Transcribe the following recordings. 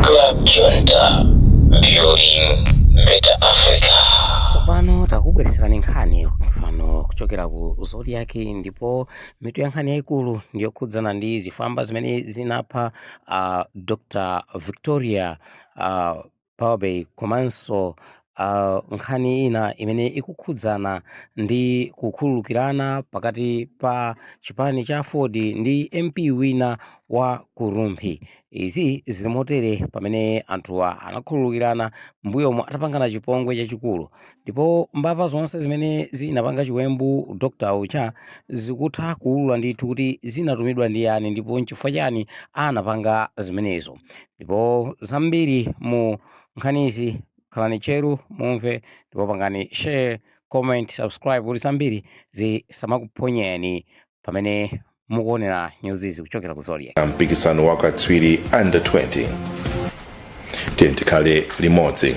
Club Junta, building better Africa. tsopano takubweretserani nkhani mfano kuchokera ku zodiac ndipo mitu ya nkhani yayikulu ndiyokhudzana ndi zifwamba zimene zinapha dr victoria Bobe komanso ah, nkhani ina imene ikukhudzana ndi kukhululukirana pakati pa chipani cha Aford ndi MP wina wa ku Rumphi. Izi zili motere pamene anthuwa anakhululukirana mbuyomo atapangana chipongwe chachikulu ndipo mbava zonse zimene zinapanga chiwembu Dr. uja zikutha kuulula ndithu kuti zinatumidwa ndi ndani ndipo nchifukwa chani anapanga zimenezo. Ndipo zambiri mu nkhanizi khalani tcheru mumve ndipo pangani share, comment, subscribe kuti zambiri zisamakuphonyeni pamene mukuonera nyuzizi kuchokera ku Zodiac. mpikisano wa katswiri under 20 tikhale limodzi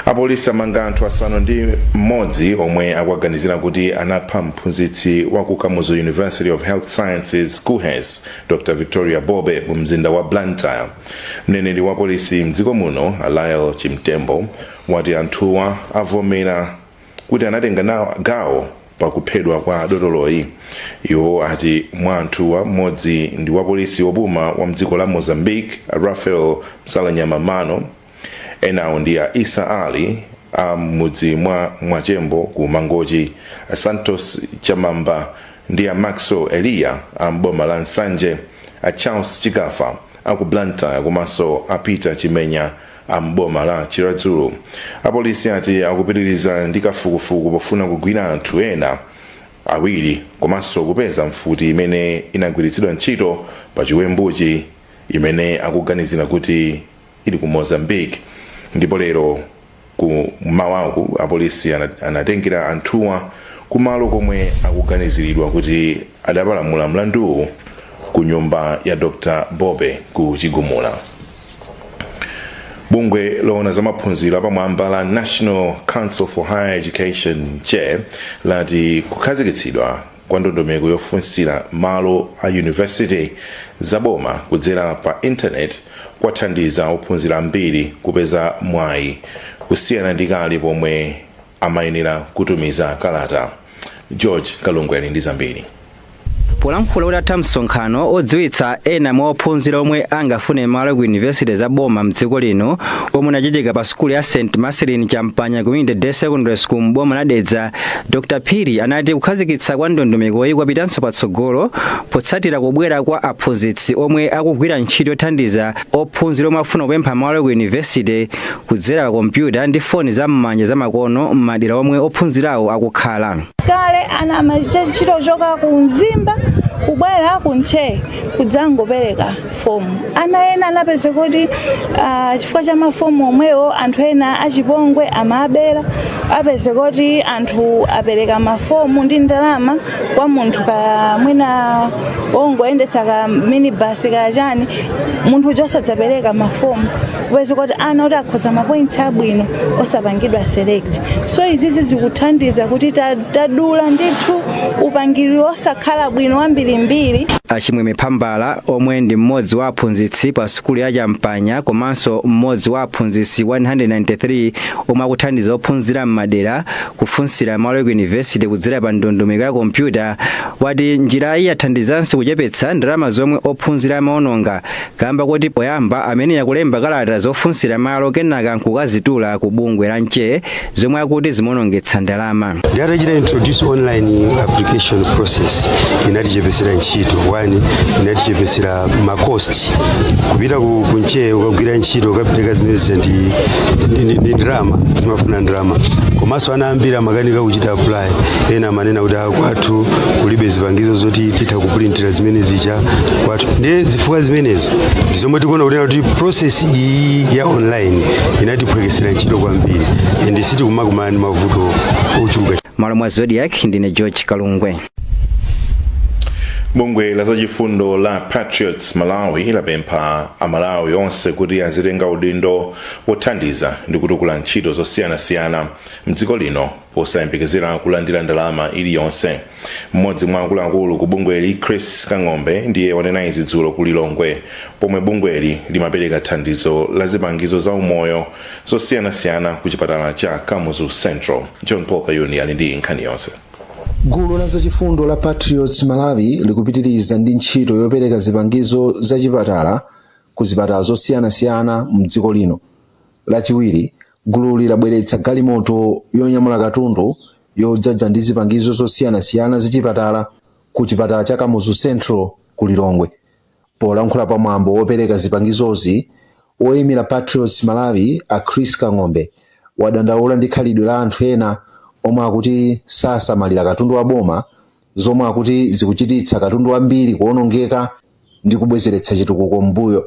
apolisi amanga anthu asanu ndi mmodzi omwe akuwaganizira kuti anapha mphunzitsi wa ku kamuzu university of health sciences kuhes dr victoria bobe mu mzinda wa blantyre mneneri wa polisi mdziko muno a lael chimtembo wati anthuwa avomera kuti anatenga gawo pa kuphedwa kwa dotoloyi iwo ati mwa anthuwa mmodzi ndi wapolisi wopuma wa mdziko la mozambique a rafael msalanyama mano enawo ndi a isa ali a m'mudzi mwa mwachembo ku mangochi a santos chamamba ndi a maxwell eliya a m'boma la nsanje a charles chikafa a ku blantyre komanso a peter chimenya a m'boma la chiradzulu apolisi ati akupitiriza ndi kafukufuku pofuna kugwira anthu ena awiri komanso kupeza mfuti imene inagwiritsidwa ntchito pa chiwembuchi imene akuganizira kuti ili ku mozambique ndipo lero ku mmawaku apolisi anatengera anthuwa kumalo komwe akuganiziridwa kuti adapalamula mlanduwu ku nyumba ya dr bobe ku chigumula bungwe loona za maphunziro apamwamba la national council for higher education nche lati kukhazikitsidwa kwa ndondomeko yofunsira malo a yunivesite zaboma kudzera pa intaneti kwathandiza ophunzira ambiri kupeza mwayi kusiyana ndi kale pomwe amayenera kutumiza kalata. George Kalungwe ali ndi zambiri. polankhula utatha msonkhano odziwitsa ena mwa ophunzira omwe angafune malo ku yunivesite za boma mdziko lino omwe unachitika pa sukulu ya st marcellin champagnat community day secondary school m'boma la dedza dr phiri anati kukhazikitsa kwa ndondomekoyi kwapitanso patsogolo potsatira kubwera kwa aphunzitsi omwe akugwira ntchito yothandiza ophunzira omwe akufuna kupempha malo ku yunivesite kudzera pa kompyuta ndi foni za m'manja zamakono m'madera omwe ophunzirawo akukhala. kale ana amachita kuchoka ku mzimba kubwera ku nche kudzangopereka fomu ana ena anapeze kuti ah, chifukwa cha mafomu omwewo anthu ena achipongwe amawabera apeze kuti anthu apereka mafomu ndi ndalama kwa munthu kaya mwina wongoyendetsa ka minibus kaya chani munthu uja osadzapereka mafomu kupeza kuti ana oti akhoza mapointsi abwino osapangidwa select so izizi zikuthandiza kuti ta- tadula ndithu upangiri osakhala bwino wambirimbiri a chimwemwe phambala omwe ndi mmodzi wa aphunzitsi pa sukulu ya champagnat komanso mmodzi wa aphunzitsi 193 omwe akuthandiza ophunzira m'madera kufunsira malo ku yunivesite kudzera pa ndondomeko ya kompyuta wati njirayi yathandizanso kuchepetsa ndalama zomwe ophunzira amaononga kamba koti poyamba amayenera kulemba kalata zofunsira malo kenaka nkukazitula ku bungwe la nche zomwe akuti zimaonongetsa ndalama Ndiye atachita introduce online application process. Inatichepesera ntchito. One, inatichepesera ma cost kupita ku nche ukagwira ntchito ukapereka zimene zija ndi ndi- ndi- ndi ndalama zimafuna ndalama komanso ana ambiri amakanika kuchita apply ena amanena kuti "Ah, kwathu kulibe zipangizo zoti titha kupulintira zimene zija kwathu ndiye zifukwa zimenezo ndi zomwe tikuona kunena kuti process iyi ya online inatiphwekesera ntchito kwambiri and sitikumakumana ndi mavuto ochuluka malo mwa zodiak ndine george kalungwe bungwe la zachifundo la patriots malawi lapempha amalawi onse kuti azitenga udindo wothandiza ndi kutukula ntchito zosiyanasiyana mdziko lino posayembekezera kulandira ndalama iliyonse mmodzi mwa akuluakulu ku bungweli chris kang'ombe ndiye wanena izi dzulo ku lilongwe pomwe bungweli limapereka thandizo la zipangizo za umoyo zosiyanasiyana ku chipatala cha kamuzu central john paul kayuni ali ndi nkhani yonse gulu la zachifundo la patriots malawi likupitiriza ndi ntchito yopereka zipangizo za chipatala ku zipatala zosiyanasiyana mdziko lino lachiwiri gululi labweretsa galimoto yonyamula katundu yodzadza ndi zipangizo zosiyanasiyana zachipatala ku chipatala cha kamuzu central ku lilongwe Polankhula pa mwambo wopereka zipangizozi, woimira Patriots Malawi a Chris Kang'ombe wadandaula ndi khalidwe la anthu ena omwe akuti sasamalira katundu wa boma zomwe akuti zikuchititsa katundu wambiri kuonongeka ndi kubwezeretsa chitukuko mmbuyo.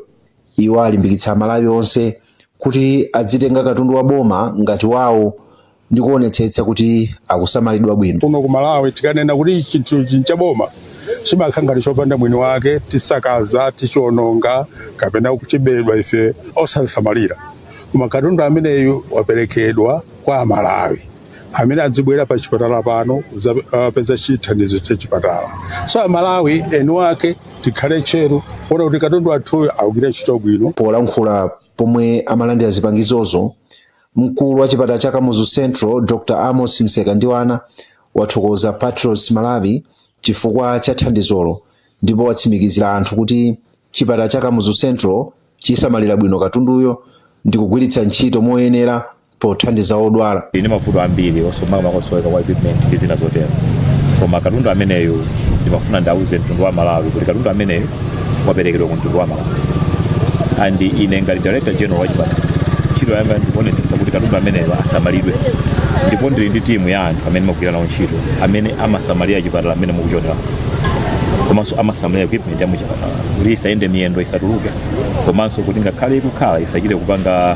Iwo alimbikitsa Amalawi onse kuti adzitenga katundu wa boma ngati wawo ndi kuonetsetsa kuti akusamalidwa bwino. kuno ku malawi tikanena kuti chinthu n'cha boma chimakhala ngati chopanda mwini wake tisakaza tichiononga kapena kuchibedwa ife osasamalira koma katundu ameneyu waperekedwa kwa amalawi amene adzibwera pa chipatala pano kupeza chithandizo cha chipatala so amalawi eni wake tikhale tcheru kuona kuti katundu wathuyo akugwira ntchito bwino polankhula pomwe amalandira zipangizozo Mkulu wa chipatala cha Kamuzu Central Dr Amos Msekandiwana wathokoza Patriots Malawi chifukwa cha thandizolo ndipo watsimikizira anthu kuti chipatala cha Kamuzu Central chisamalira bwino katunduyo ndi kugwiritsa ntchito moyenera pothandiza odwala. Tili ndi mavuto ambiri makamaka kusoweka kwa equipment ndi zina zotero, koma katundu ameneyu ndimafuna ndiuze mtundu wa Malawi kuti katundu ameneyu waperekedwa ku mtundu wa malawi and ine ngati director general wa chipatala ntchito yanga ndikuonetsetsa kuti katundu ameneyo asamalidwe ndipo ndili ndi timu ya anthu amene ndimagwira nawo ntchito amene amasamalira chipatala mmene mukuchionera komanso amasamalira equipment ya muchipatala kuti isayende miyendo isatuluke komanso kuti ngakhale ikukhala isachite kupanga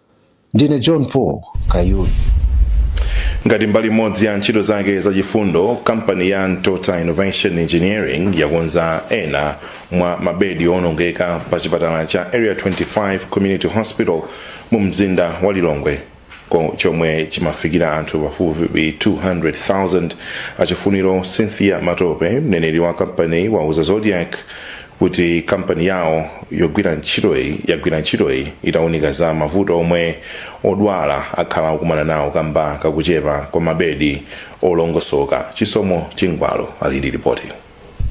Ndine John Paul Kayuni. ngati mbali imodzi ya ntchito zake zachifundo kampani ya ntota innovation engineering yakonza ena mwa mabedi owonongeka pa chipatala cha area 25 community hospital mu mzinda wa lilongwe chomwe chimafikira anthu pafupifupi 200,000 a chifuniro cynthia matope mneneri wa kampani wauza zodiac kuti kampani yawo yagwira ntchitoyi itaunika za mavuto omwe odwala akhala akukumana nawo kamba kakuchepa kwa mabedi olongosoka chisomo chingwalo ali ndi ripoti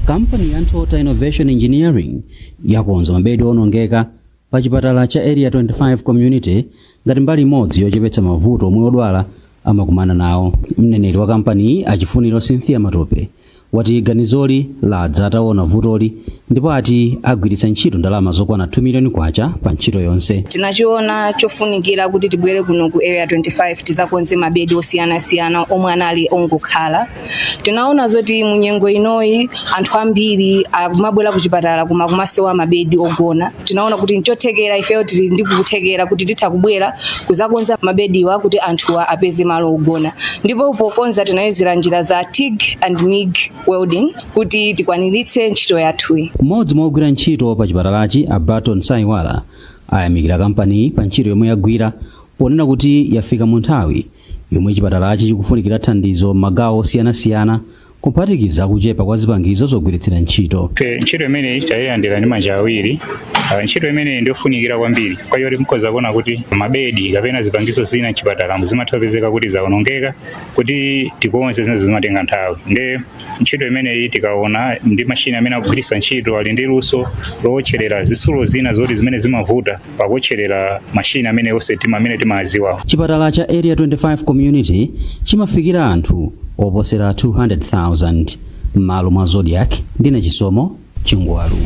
kampani ya ntota innovation engineering yakonza mabedi onongeka pa chipatala cha Area 25 Community ngati mbali imodzi yochepetsa mavuto omwe odwala amakumana nawo. Mneneri wa kampaniyi a Chifuniro Cynthia Matope wati ganizoli ladza ataona vutoli ndipo ati agwiritsa ntchito ndalama zokwana 2 miliyoni kwacha pa ntchito yonse. tinachiona chofunikira kuti tibwere kuno ku area 25 tizakonze mabedi osiyanasiyana omwe anali ongokhala tinaona zoti mu nyengo inoyi anthu ambiri akumabwera ku chipatala koma kumasowa mabedi ogona tinaona kuti nchothekera ifeyo tili ndi kuthekera kuti titha kubwera kuzakonza mabediwa kuti anthuwa apeze malo ogona ndipo pokonza tinayuzira njira za tig and mig welding kuti tikwaniritse ntchito yathuyi mmodzi mwa ogwira ntchito pa chipatalachi a barton saiwala ayamikira kampaniyi pa ntchito yomwe yagwira ponena kuti yafika mu nthawi yomwe chipatalachi chikufunikira thandizo m'magawo osiyanasiyana kuphatikiza kuchepa kwa zipangizo zogwiritsira ntchito ntchito imeneyi tayilandira ndi manja awiri ntchito imeneyi ndiyofunikira kwambiri kwa ife yoti mukhoza kuona kuti mabedi kapena zipangizo zina mchipatalamu zimatha kupezeka kuti zawonongeka kuti tikonze zimene zimatenga nthawi nde ntchito imeneyi tikaona ndi mashini amene akugwiritsa ntchito ali ndi luso lowotcherera zitsulo zina zoti zimene zimavuta pakuotcherera mashini amene onse tima amene timaziwa chipatala cha area 25 community chimafikira anthu oposera 200,000 m'malo mwa zodiak ndine chisomo chingwalu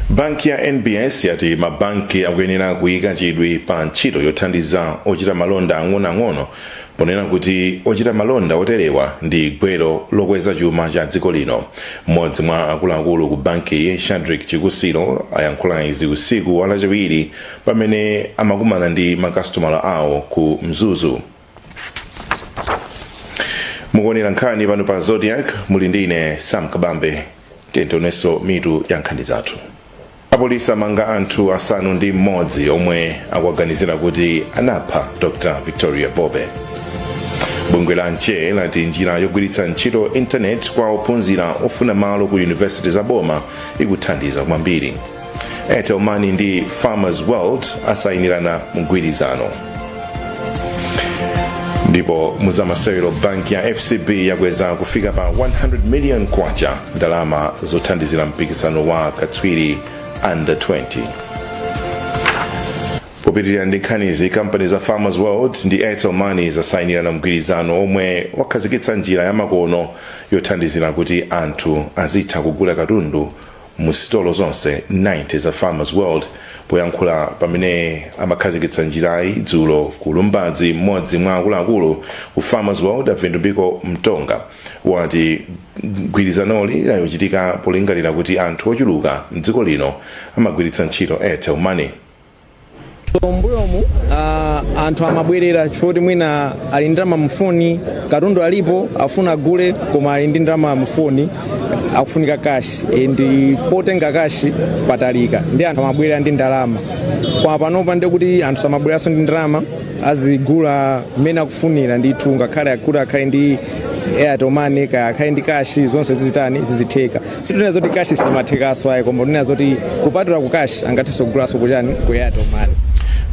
banki ya nbs yati mabanki akuyenera kuyika chidwi pa ntchito yothandiza ochita malonda ang'onoang'ono ponena kuti ochita malonda oterewa ndi gwero lokweza chuma cha dziko lino. Mmodzi mwa akuluakulu ku bankiyi, a Shadreck Chikusilo, ayankhula izi usiku wa Lachiwiri pamene amakumana ndi makasitomala awo ku Mzuzu. Mukuonera nkhani pano pa Zodiak muli ndi ine Sam Kabambe, tiyeni tionenso mitu ya nkhani zathu. apolisi amanga anthu asanu ndi mmodzi omwe akuwaganizira kuti anapha dr victoria bobe bungwe la nche lati njira yogwiritsa ntchito intaneti kwa ophunzira ofuna malo mu yunivesiti za boma ikuthandiza kwambiri airtel money ndi farmers world asayinirana mgwirizano ndipo muzamasewero banki ya fcb yakweza kufika pa 100 million kwacha ndalama zothandizira mpikisano wa katswiri under 20 popitirira ndi nkhanizi kampani za farmers world ndi airtel money zasayinirana mgwirizano omwe wakhazikitsa njira yamakono yothandizira kuti anthu azitha kugula katundu mu sitolo zonse 90 za Farmers World. Poyankhula pamene amakhazikitsa njirayi dzulo ku Lumbadzi, mmodzi mwa akuluakulu ku Farmers World a Vitumbiko Mtonga wati gwirizanoli lachitika polingalira kuti anthu ochuluka mdziko lino amagwiritsa ntchito Airtel Money. mbuyomu uh, anthu amabwerera chifukwa kuti mwina ali ndi ndalama mufoni katundu alipo afuna agule koma ali ndi ndalama mufoni akufunika kashi and potenga kashi patalika ndi anthu amabwerera ndi ndalama koma panopa ndi kuti anthu samabwereranso ndi ndalama azigula mmene akufunira ndithu ngakhale kuti akhale ndi airtel money kaya akhale ndi kashi zonse zizitani zizitheka sitinena zoti cash simathekaso ayi koma tinena zoti kupatula ku cash angathenso kugulaso kuchani ku airtel money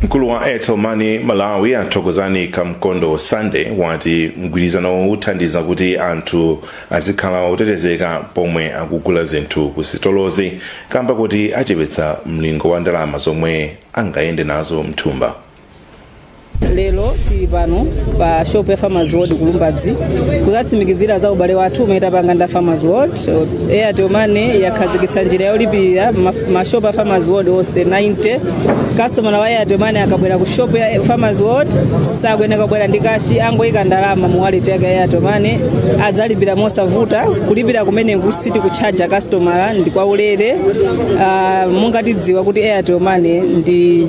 mkulu wa airtel money malawi a thokozani kamkondo sande wati mgwirizanowu uthandiza kuti anthu azikhala otetezeka pomwe akugula zinthu ku sitolozi kamba kuti achepetsa mlingo wa ndalama zomwe angayende nazo mthumba lero tili pano pa shop ya farmers world ku lumbadzi kuzatsimikizira za ubale wathu umene tapanga nda farmers world airtel money yakhazikitsa njira yolipirira maf- mashopu a farmers world onse 90 customer wa airtel money akabwera ku shop ya farmers world sakuyenera kubwera ndi kashi angoyika ndalama mu wallet yake ya airtel money adzalipira mosavuta kulipira kumeneku sitikutchaja customer ndi kwaulere Ah, monga tidziwa kuti airtel money ndi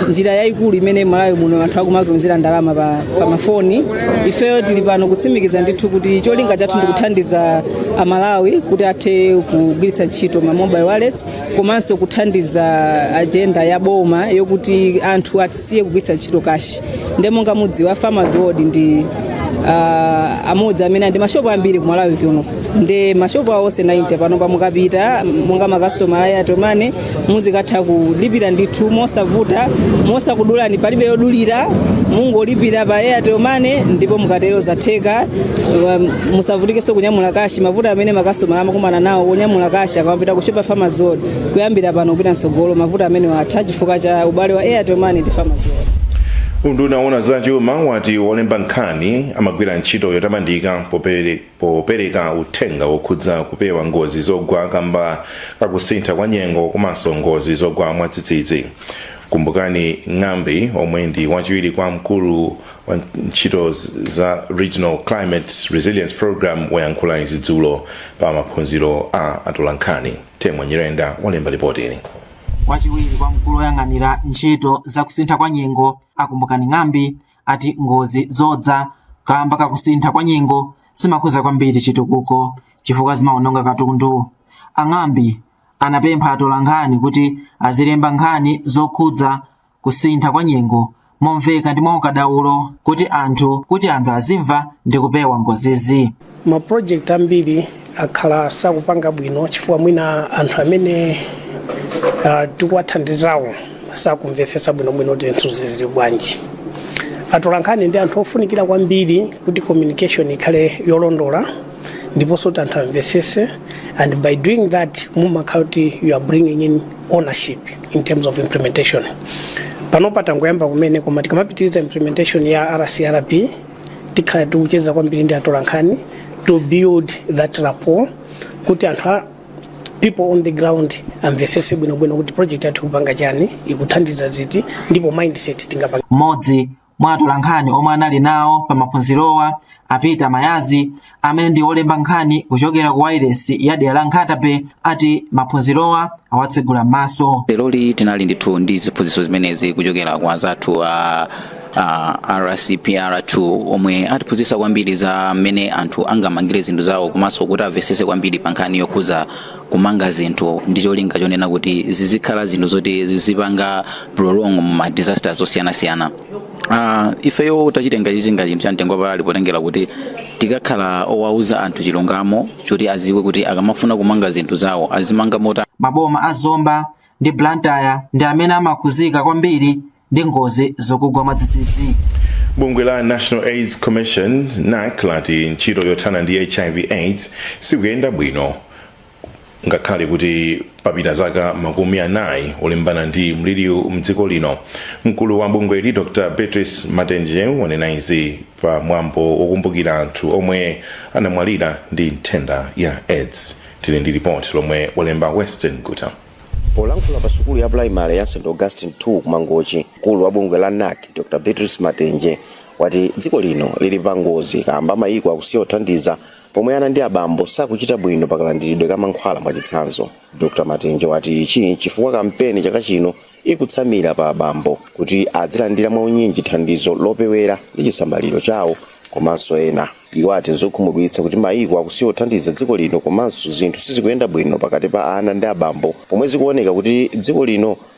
njira yayikulu imene malawi muno anthu akumatumizira ndalama pa, pa mafoni ifeyo tili pano kutsimikiza ndithu kuti cholinga chathu ndi kuthandiza amalawi kuti athe kugwiritsa ntchito ma mobile wallets komanso kuthandiza ajenda ya boma yokuti anthu asiye kugwiritsa ntchito kashi nde monga mudziwa farmers world ndi ah, amodzi amene ali ndi mashopu ambiri kumalawi kuno ndi mashopu awo onse 90 panopa mukapita monga makasitomala a Airtel Money muzikatha kulipira ndithu mosavuta mosakudulani palibe yodulira mungolipira pa Airtel Money ndipo mukatero zatheka Um, musavutikenso kunyamula kashi mavuto amene makasitomala amakumana nawo kunyamula kashi akamapita ku shop ya Farmers World kuyambira pano kupita mtsogolo mavuto amenewa atha chifukwa cha ubale wa Airtel Money ndi Farmers World unduna woona za chuma wati olemba nkhani amagwira ntchito yotamandika popere- Popereka uthenga wokhudza kupewa ngozi zogwa kamba ka kusintha kwa nyengo komanso ngozi zogwa mwadzidzidzi, Kumbukani Ng'ambi omwe ndi wachiwiri kwa mkulu wa ntchito za Regional Climate Resilience Programme wayankhula izi dzulo pa maphunziro a atolankhani. Temwa Nyirenda walemba lipotiri. Wachiwiri kwa mkulu oyang'anira ntchito za kusintha kwa nyengo a Kumbukani Ng'ambi ati ngozi zodza kamba kakusintha kwa nyengo zimakhuza kwambiri chitukuko chifukwa zimaononga katundu a ng'ambi anapempha atolankhani kuti azilemba nkhani zokhudza kusintha kwa nyengo momveka ndi mwaukadaulo kuti anthu kuti anthu azimva ndi kupewa ngozizi ma project ambiri akhala sakupanga bwino chifukwa mwina anthu amene uh, tikuwathandizawo sakumvetsetsa bwinobwino kuti zinthu zili bwanji atolankhani ndi anthu ofunikira kwambiri kuti communication ikhale yolondola ndiponso kuti anthu amvetsetse and by doing that mumakhala kuti you are bringing in ownership in terms of implementation panopa tangoyamba kumene koma tikamapitiriza implementation ya rcrp tikhala tikucheza kwambiri ndi atolankhani to build that rapport kuti anthu a people on the ground amvesese bwinobwino kuti project yathu ikupanga chani ikuthandiza ziti ndipo mindset tingapanga mmodzi mwa atolankhani omwe anali nawo pa maphunzirowa a Peter Mayazi amene ndi olemba nkhani kuchokera ku wailesi ya dera la nkhata bay ati maphunzirowa awatsegula maso leroli tinali ndithu ndi ziphunzitso zimenezi kuchokera kwa zathu a a rcpr2 omwe atiphunzitsa kwambiri za mmene anthu angamangire zinthu zawo komanso kuti amvesese kwambiri pa nkhani yokhudza kumanga zinthu ndi cholinga chonena kuti zizikhala zinthu zoti zizipanga prolong mu ma disasters osiyanasiyana Uh, ifeyo tachitenga ichi ngati chinthu cha mtengo wapatali potengera kuti tikakhala owauza anthu chilungamo choti aziwe kuti akamafuna kumanga zinthu zawo azimanga motani maboma a zomba ndi blantyre ndi amene amakhuzika kwambiri ndi ngozi zokugwa mwadzidzidzi bungwe la national aids commission nac lati ntchito yothana ndi hiv aids sikuyenda bwino Ngakhale kuti papita zaka makumi anayi olimbana ndi mliriwu mdziko lino, mkulu wa bungweli Dr Beatrice Matenje wanena izi pa mwambo wokumbukira anthu omwe anamwalira ndi nthenda ya aids. Tili ndi lipoti lomwe walemba Western Guta. Polankhula pa sukulu ya pulayimale ya St Augustine 2 ku Mangochi, mkulu wa bungwe la NAC Dr Beatrice Matenje wati dziko lino lili pangozi kaamba mayiko akusiya kuthandiza Pomwe ana ndi abambo sakuchita bwino pa kalandiridwe ka mankhwala mwachitsanzo, Dr Matenje wati ichi nchifukwa kampeni chaka chino ikutsamira pa abambo kuti adzilandira mwaunyinji thandizo lopewera ndi chisamaliro chawo komanso ena. Iwo ati nzokhumudwitsa kuti maiko akusiya kuthandiza dziko lino komanso zinthu sizikuyenda bwino pakati pa ana ndi abambo pomwe zikuoneka kuti dziko lino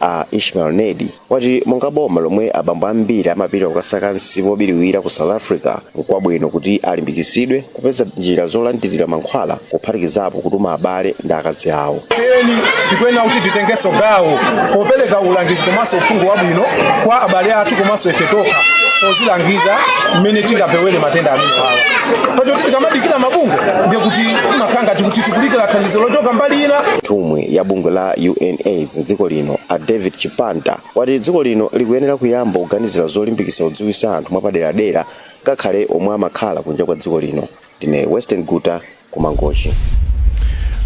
a ishmael nedi wati monga boma lomwe abambo ambiri amapita kukasaka msipu wobiriwira ku south africa nkwabwino kuti alimbikitsidwe kupeza njira zolandirira mankhwala kuphatikizapo kutuma abale ndi akazi awo eni tikuyenera kuti titengenso gawo popereka ulangizi komanso uphungu wabwino kwa abale athu komanso ife tokha pozilangiza mmene tingapewere matenda amenewawa poti tikamadikira mabungwe ndiye kuti timakhala ngati kuti tikudikira thandizo lochoka mbali ina nthumwi ya bungwe la unaids za dziko lino a david chipanta wati dziko lino likuyenera kuyamba kuganizira zolimbikitsa kudziwitsa anthu mwapaderadera ngakhale omwe amakhala kunja kwa dziko lino ndine winstone kaimira kumangochi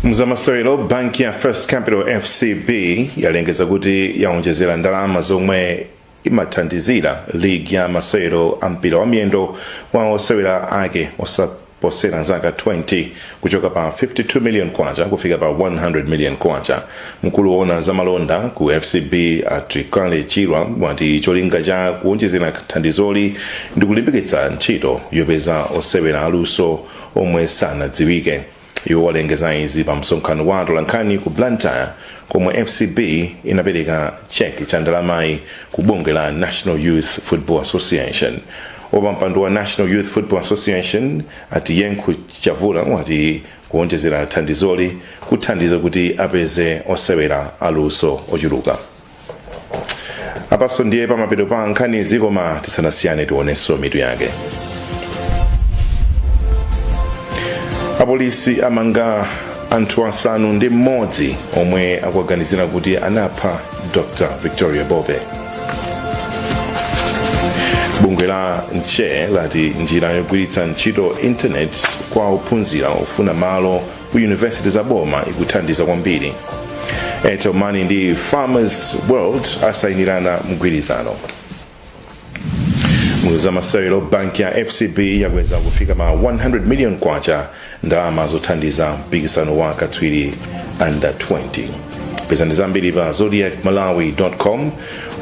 mzamasewero banki ya first capital fcb yalengeza kuti yawonjezera ndalama zomwe imathandizira ligi ya masewero a mpira wa miyendo wa osewera ake osaposera zaka 20 kuchoka pa 52 million kwacha kufika pa 100 million kwacha mkulu woona za malonda ku fcb a twikale chirwa wati cholinga cha kuwonjezera thandizoli ndi kulimbikitsa ntchito yopeza osewera aluso omwe sanadziwike Iwo walengeza izi pa msonkhano wa atolankhani ku Blantyre komwe FCB inapereka cheki cha ndalamayi ku bungwe la National Youth Football Association. Wapampando wa National Youth Football Association a Tiyenkhu Chavula wati kuonjezera thandizoli kuthandiza kuti apeze osewera aluso ochuluka. apaso ndiye pamapeto pa nkhanizi koma tisanasiyane tionenso mitu yake apolisi amanga anthu asanu ndi mmodzi omwe akuwaganizira kuti anapha dr victoria bobe bungwe la nche lati njira yogwiritsa ntchito intaneti kwa ophunzira ofuna malo ku yunivesiti za boma ikuthandiza kwambiri airtel money ndi farmers world asayinirana mgwirizano mzamasewero banki ya fcb yakweza kufika pa 100 million kwacha ndalama zothandiza mpikisano wa katswiri under 20 pezani zambiri pa zodiak malawi com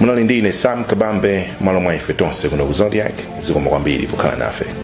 munali ndi ine sam kabambe malo mwa ife tonse kuno ku zodiak zikomo kwambiri pokhala nafe